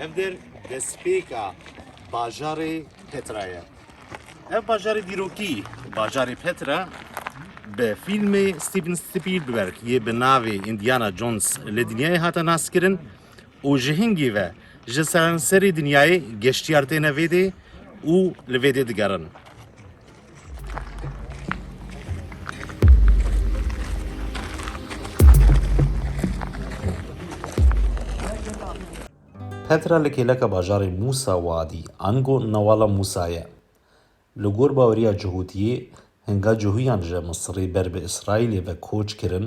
Ev der destpêka bajarê Petra ye. Ev bajarê dîrokî, bajarê Petra bi fîlmê Steven Spielberg yê bi navê Indiana Jones li dinyayê hate naskirin û ji hingî ve ji seranserê dinyayê geştiyar têne vêdê û li vêdê digerin. Petra li kêleka bajarê Mûsa Wadî, ango Newala Mûsa ye. Li gor baweriya Cihûtiyê, hinga cihûyan ji Misirê ber bi Îsraîlê ve koç kirin,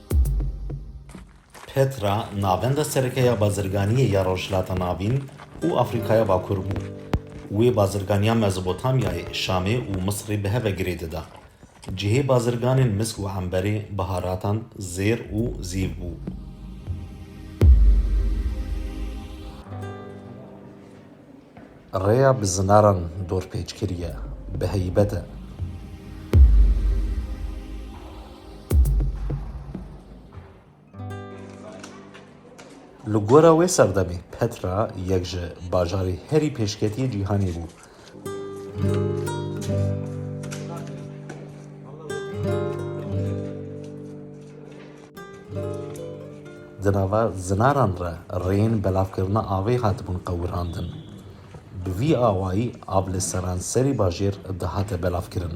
Petra navenda sereke ya bazirganiyê ya Rojhilata Navîn û Afrîkaya Bakur bû. Wê bazirganiya Mezopotamyayê, Şamê û Misirê bi hev ve girê dida. Cihê bazirganên misk û emberê, biharatan, zêr û zîv bû. Rêya bi zinaran dorpêç kiriye, bi heybet e. Li gora wê serdemê Petra yek ji bajarê herî pêşketiyê cîhanê bû. Di nava zinaran re rêyên belavkirina avê hatibûn qewirandin. Bi vî awayî av li seranserî bajêr dihate belavkirin.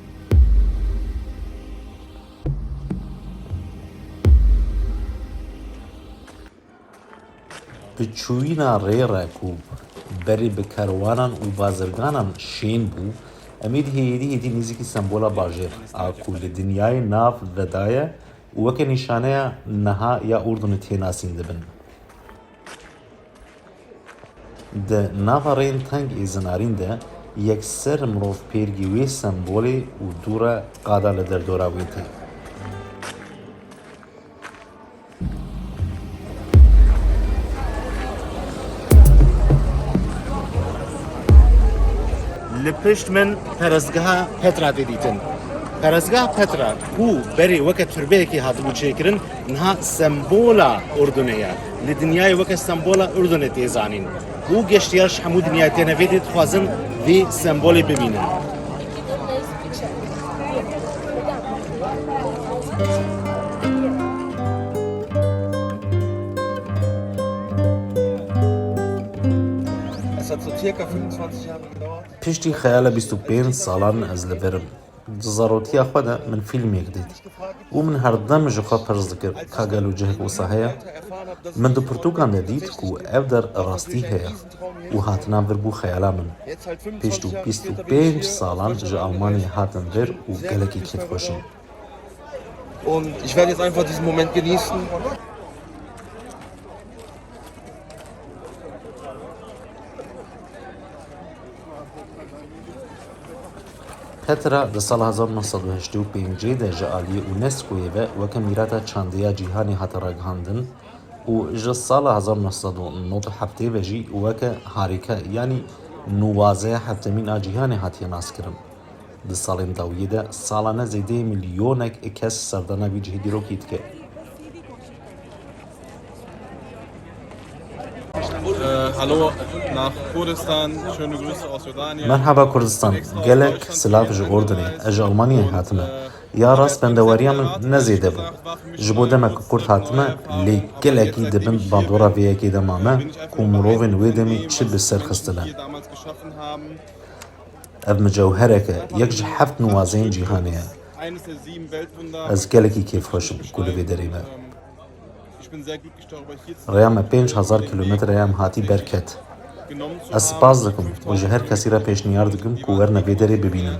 Bi çûyîna rê re ku berê bi kerwanan û bazirganan şên bû, Emîd hêdî hêdî nêzîkî sembola bajêr a ku li dinyayê nav vedaye û weke nîşaneya niha ya Urdunê tê nasîn dibin. Di nava rêyên teng ê zinarîn de yekser mirov pêrgî wê sembolê û dû re qada li derdora wê tê. Li pişt min perestgeha Petra tê dîtin. Perestgeha Petra ku berê weke turbeyekê hatibû çêkirin, Niha sembola Urdunê ye. Li dinyayê weke sembola Urdunê tê zanîn û geştyar ji hemû dinyayê têne vê dê dixwazin vê sembolê bibînin. Piştî xeyala bîst û pênc salan ez li vir im. Di zarotiya xwe de min fîlmêk dît û min herdem ji xwe pirs dikir ka gelo cihek wisa heye? Min di pirtûkan de dît ku ev der rastî heye û hatina vir bû xeyala min. Piştû bîst û pênc salan ji Almanyayê hatim vir û gelekî kêfxweş im. Tetra di sala hezar û neh sed û heştê û pênc de ji aliyê UNESCO'yê ve weke mîrata çandîya cîhanê hate ragihandin û ji sala hezar û neh sed û nod û heftê ve jî weke harîka yanî nuwazeya hevtemîn a cîhanê hatiye naskirin. Di salên dawiyê de salane zêdeyê milyonek kes serdana vî cihê dîrokî dike. Merhaba Kurdistan, gelek silav ji Urdinê, ez ji Almanyayê hatime. Ya rast bendewariya min ne zêde bû. Ji bo demek Kurd hatime lê gelekî di bin bandora vê yekê de mame ku mirovên wê demê çi bi ser xistine. Ev micewherek e, yek ji heft nuwazeyên cîhanê ye. Ez gelekî kêfxweş im ku li vê derê me. Rêya me pênc hezar kîlometre ye em hatî derket. Ez spas dikim û ji her kesî re pêşniyar dikim ku werne vê derê bibînin.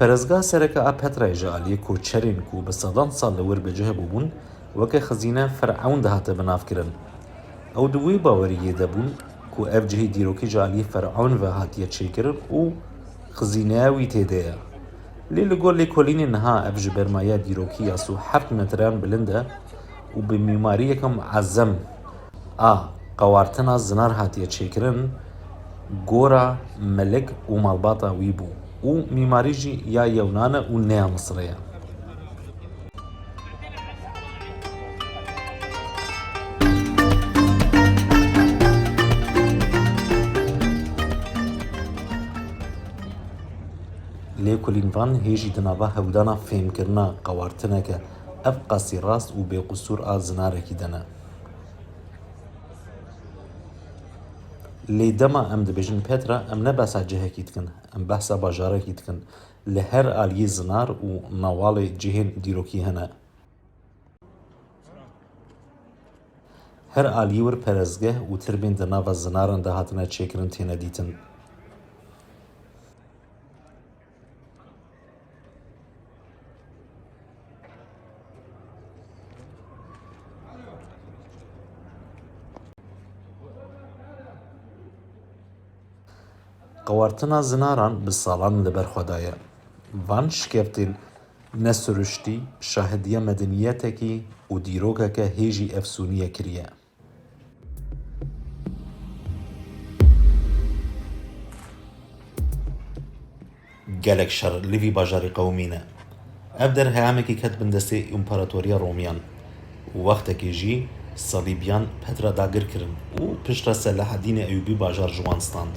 Perezga sereke a Petrayê ji aliyê koçerên ku bi sedan sal li wir bi cih bûbûn weke xizîne Firewn dihate binavkirin. Ew di wê baweriyê de bûn ku ev cihê dîrokî ji aliyê Firewn ve hatiye çêkirin û xizîneya wî tê de ye. Lê li gor lêkolînê niha ev ji ber maya dîrokî ya sî û heft metreyan bilind e û bi mîmariyeke muezzem, A qewartina zinar hatiye çêkirin gora melik û malbata wî bû û mîmarî jî ya yewnan e û ne ya Misirê ye. Lê kulîn van hê jî di nava hewdana fêmkirina qewartineke ev qasî rast û bêqusûr a zinarekî de ne. Lê dema em dibêjin Petra, em ne behsa cihekî dikin, em behsa bajarekî dikin. Li her aliyê zinar û mewalê cihên dîrokî hene. Her aliyê wir perestgeh û tirbên di nava zinaran de hatine çêkirin têne dîtin. Qewartina zinaran bi salan li ber xwe daye. Van şikevtên ne siruştî şahidiya medenîyetekî û dîrokeke hêjî efsûnî ye kiriye. Gelek şer li vî bajarî qewimîne. Ev der heyamekî ket bin destê Împaratoriya Romîyan û wextekî jî Salîbîyan Petra dagir kirin û pişt re Selahedînê Eyûbî bajar ji wan stand.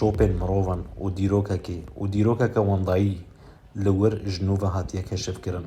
Şopên mirovan û dîrokekê û dîrokeke wendayî li wir ji nû ve hatiye keşifkirin.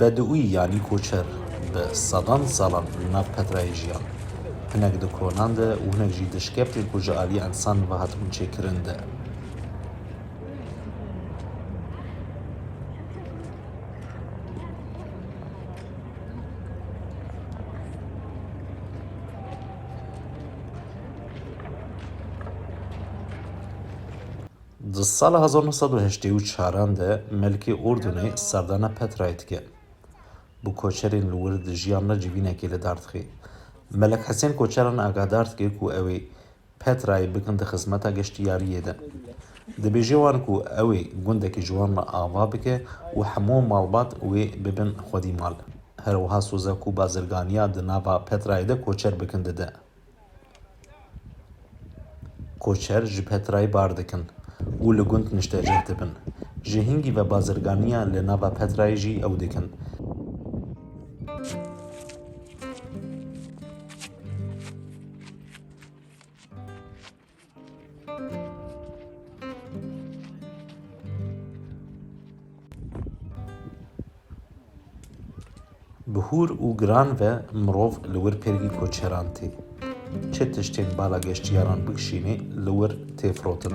Bedûî yanî koçer bi sedan salan li nav Petrayê jiyan. Hinek di konan de û hinek jî di şkeptên ku ji aliyê ensan ve hatibûn çêkirin de. Di sala hezar nû sed û heştê û çaran de Melkê Urdunê serdana Petrayê dike. Bi koçerên li wir dijiyan re civînekê li dar dixe. Melek Hesên koçeran agadar dike ku ew ê Petrayê bikin di xizmeta geştiyariyê de. Dibêje wan ku ew ê gundekî ji wan re ava bike û hemû malbat wê bibin xwedî mal. Her wiha soza ku bazirganiya di nava Petrayê de koçer bikin dide. Koçer ji Petrayê bar dikin û li gund niştecih dibin. Ji hingî ve bazirganiya li nava Petrayê jî ew dikin. Bi hûr û giran ve mirov li wir pêrgî koçeran tê. Çi tiştên bala geştyaran bikişînê li wir tê firotin.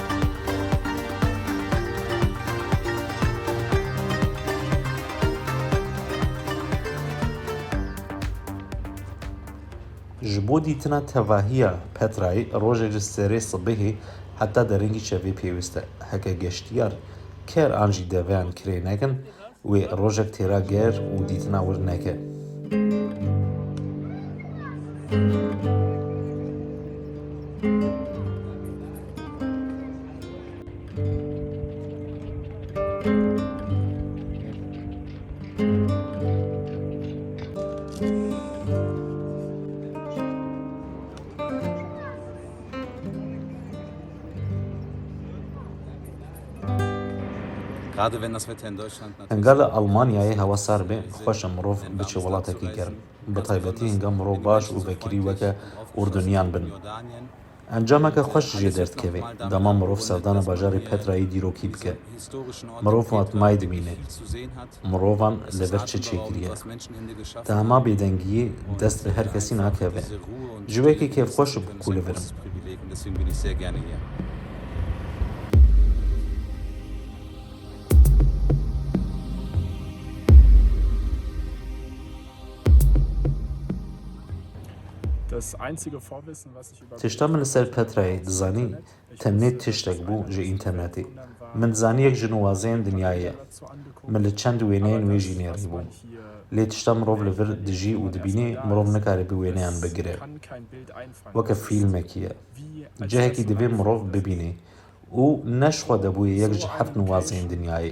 Ji bo dîtina tevahiya Petrayê rojê li serê sibehê heta derengî çevê pêwîst e. Heke geştiyar ker an jî deveyan kirê nekin, Wê rojek têra ger û dîtina wir neke. Hinga li Elmanyayê hewa sar be, xweş e mirov biçe welatekî germ. Bi taybetî hinga mirov baş û vekirî weke urduniyan bin. Encameke xweş jê derdikeve, dema mirov serdana bajarê Petrayê dîrokî bike. Mirov watmayî dimîne. mirovan li vir çi çêkiriye. Tahma bêdengiyê dest bi her kesî nakeve. Ji wekî kêfxweş bû ku li vir im. Tişta min li ser Petrayê dizanî Tenê tiştek bû ji înternetê. Min zanî yek ji nuwazeyên dinyayê ye. Min li çend wêneyên wê jî nêrî bû. Lê tişta mirov li vir dijî û dibînê mirov nikare bi wêneyan bigire. Weke fîlmekî ye. Cihekî divê mirov bibînê û ne ji xwe de bûye yek ji heft nuwazeyên dinyayê.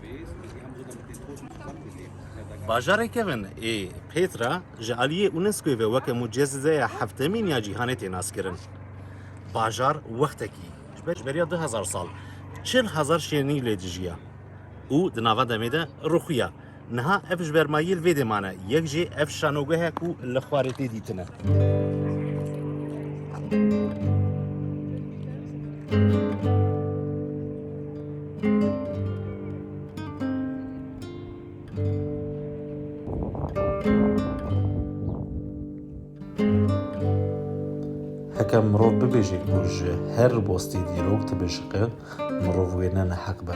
Bajarê kevin ê Petra ji aliyê UNESCO'yê ve weke mucizeya heftemîn ya cîhanê tê naskirin. Bajar wextekî ji beriya du hezar sal çil hezar şênî lê dijiya û di nava demê de rûxiya. Niha ev ji ber mayî li vê dê mane, yek jê ev şanogehe ku li xwarê tê dîtine. Heke mirov bibêje ku ji her ribostî dîrok dibişiqe, mirov wê ne neheq be.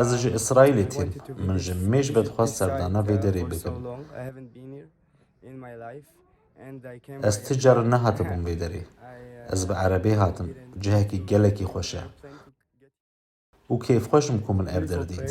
Ez ji Îsraîlê tîm. Min ji mêj be dixwest serdana vê derê bikim. Ez ti caran nehatibûm vê derê. Ez bi erebê hatim. Cihekî gelekî xweş e. Û kêfxweş im ku min ev der dît.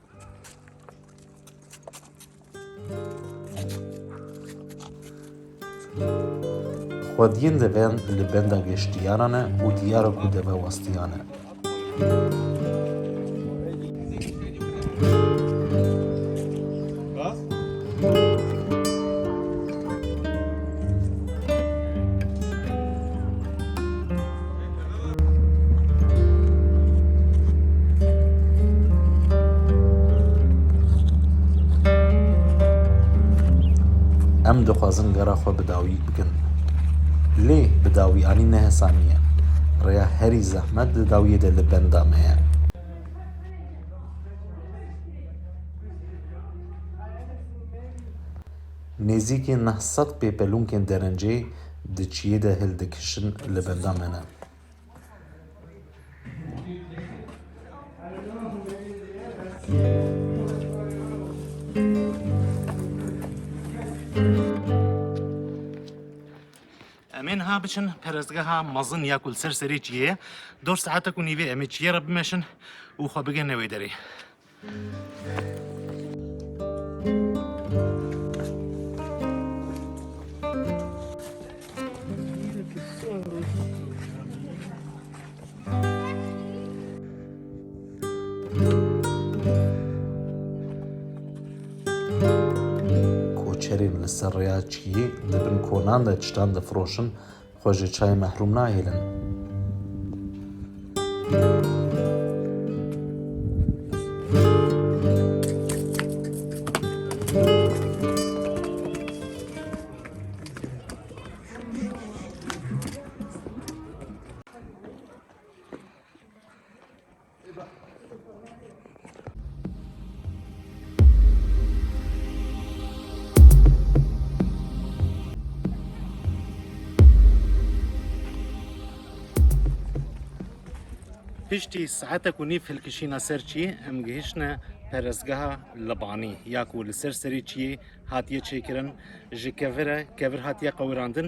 Xwediyên deveyan li benda geştiyaran ne û diyar e ku deve westiyan e. Bas. Em dixwazin gera xwe bi dawî bikin. Lê bi dawî anî ne hesanî ye. Rêya herî zehmet di dawiyê de li benda me ye. Nêzîkî neh sed pêpelunkên derencê di çiyê de hildikişin li benda me ne. Em ê niha biçin perestgeha mezin ya ku li ser serê çiyê ye. Dor saetek û nîvê em ê çiyê re bimeşin û xwe bigihne wê derê. Koçerên li ser rêya çiyê li bin konan de çitan difroşin, Xwe ji çayê mehrûm nahêlin. Piştî saetek û nîv hilkişîna ser çî em gihişne perestgeha Libanî ya ku li ser serê çiyê hatiye çêkirin ji kevir e kevir hatiye qewirandin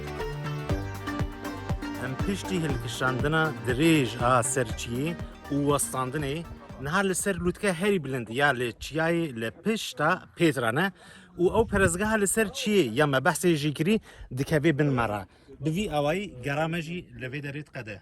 Em piştî hilkişandina dirêj a ser çiyê û westandinê niha li ser lûtke herî bilind ya li çiyayê li pişta Pêtra ne û ew perezgeha li ser çiyê ya me behsê jî kirî dikevê bin me re. Bi vî awayî gera me jî li vê derê diqede.